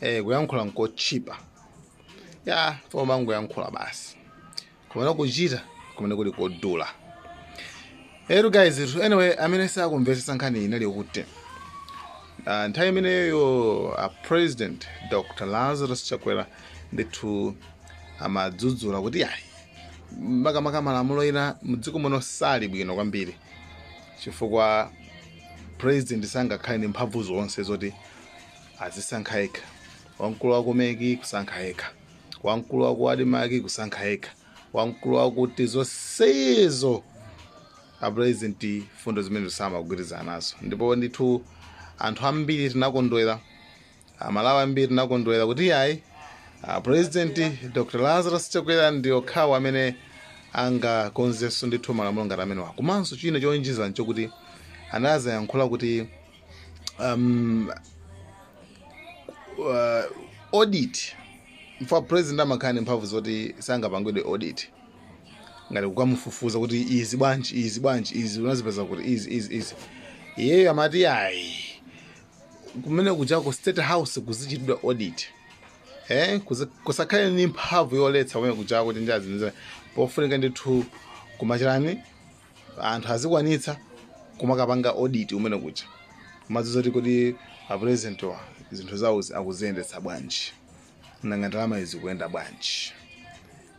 eh kuyankhula nkotchipa ya chifukwa umangoyankhula basi komano kuchita kumene kuli kodula ero guys it- anyway amene sakumvetsetsa nkhani inali yokuti uh, nthawi imeneyo a president dr lazarus chakwera ndithu amadzudzula kuti yayi makamaka malamulo ena mdziko muno sali bwino kwambiri chifukwa president sangakhale ndi mphamvu zonse zoti azisankha yekha wamkulu wa kumeki kusankha yekha wamkulu wa kuadimaki kusankha yekha wamkulu wakuti zonsezo apurezidenti fundo zimenezi samagwirizana nazo ndipo ndithu anthu ambiri tinakondwera amalawi ambiri tinakondwera kuti ayi apurezidenti dr lazarus chakwera ndi okhawo amene angakonzenso ndithu malamulo ngati amenewa komanso china chowonjezera nchokuti anazayankhula kuti um, uh, audit chifukwa president amakhala ndi mphamvu zoti sangapangidwe audit ngati kukamufufuza kuti izi bwanji izi bwanji izi unazipeza kuti izi izi izi iyeyo amati ayi kumene kujako state house kuzichitidwa audit eh kuzi- kusakhale ni mphamvu yoletsa kumene kujako kuti njazi niza pofunika ndithu kumachitani anthu azikwanitsa kumakapanga audit kumene kuja kumadziwa kuti kodi a presidentwa zinthu zawozi akuziyendetsa bwanji nanga ndalama zikuyenda bwanji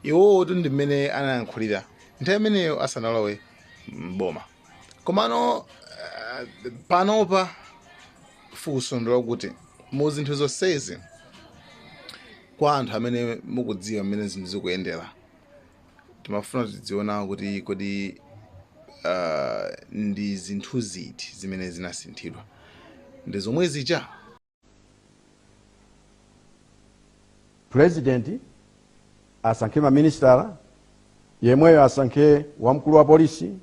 iwowotu ndi mmene anayankhulira nthawi imeneyo asanalowe mboma komano eh, panopa funso ndi lakuti mu zinthu zonsezi kwa anthu amene mukudziwa mmene zinthu zikuyendera timafuna tidziona kuti kodi uh, ndi zinthu ziti zimene zinasinthidwa ndi zomwe zija purezidenti asankhe maministala yemweyo asankhe wamkulu wa polisi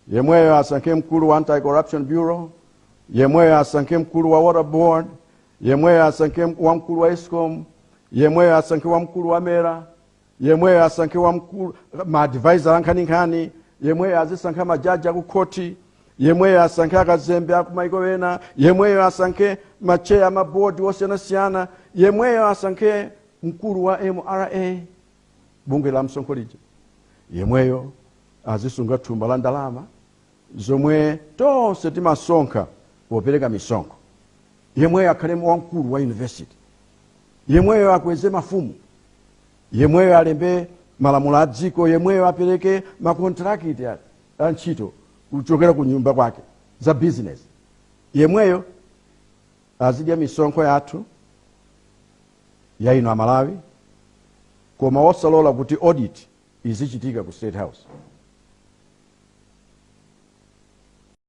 yemweyo asankhe mkulu wa anti corruption bureau yemweyo asankhe mkulu wa water board yemweyo asankhe wamkulu wa escom yemweyo asankhe wamkulu wa mera yemweyo asankhe wamkulu maadvisor ankhaninkhani yemweyo azisankha majaji akukhoti yemweyo asankhe akazembe akumaiko ena yemweyo asankhe macheya amabodi osiyanasiyana yemweyo asankhe mkulu wa mra bungwe la msonkho lija yemweyo azisunga thumba la ndalama zomwe tonse timasonkha popereka misonkho yemweyo akhale wamkulu wa yunivesiti yemweyo akweze mafumu yemweyo alembe malamulo a dziko yemweyo apereke makontrakiti a a ntchito kuchokera ku nyumba kwake za bizinesi yemweyo azidya misonkho yathu ya inu amalawi koma osalola kuti audit izichitika ku state house.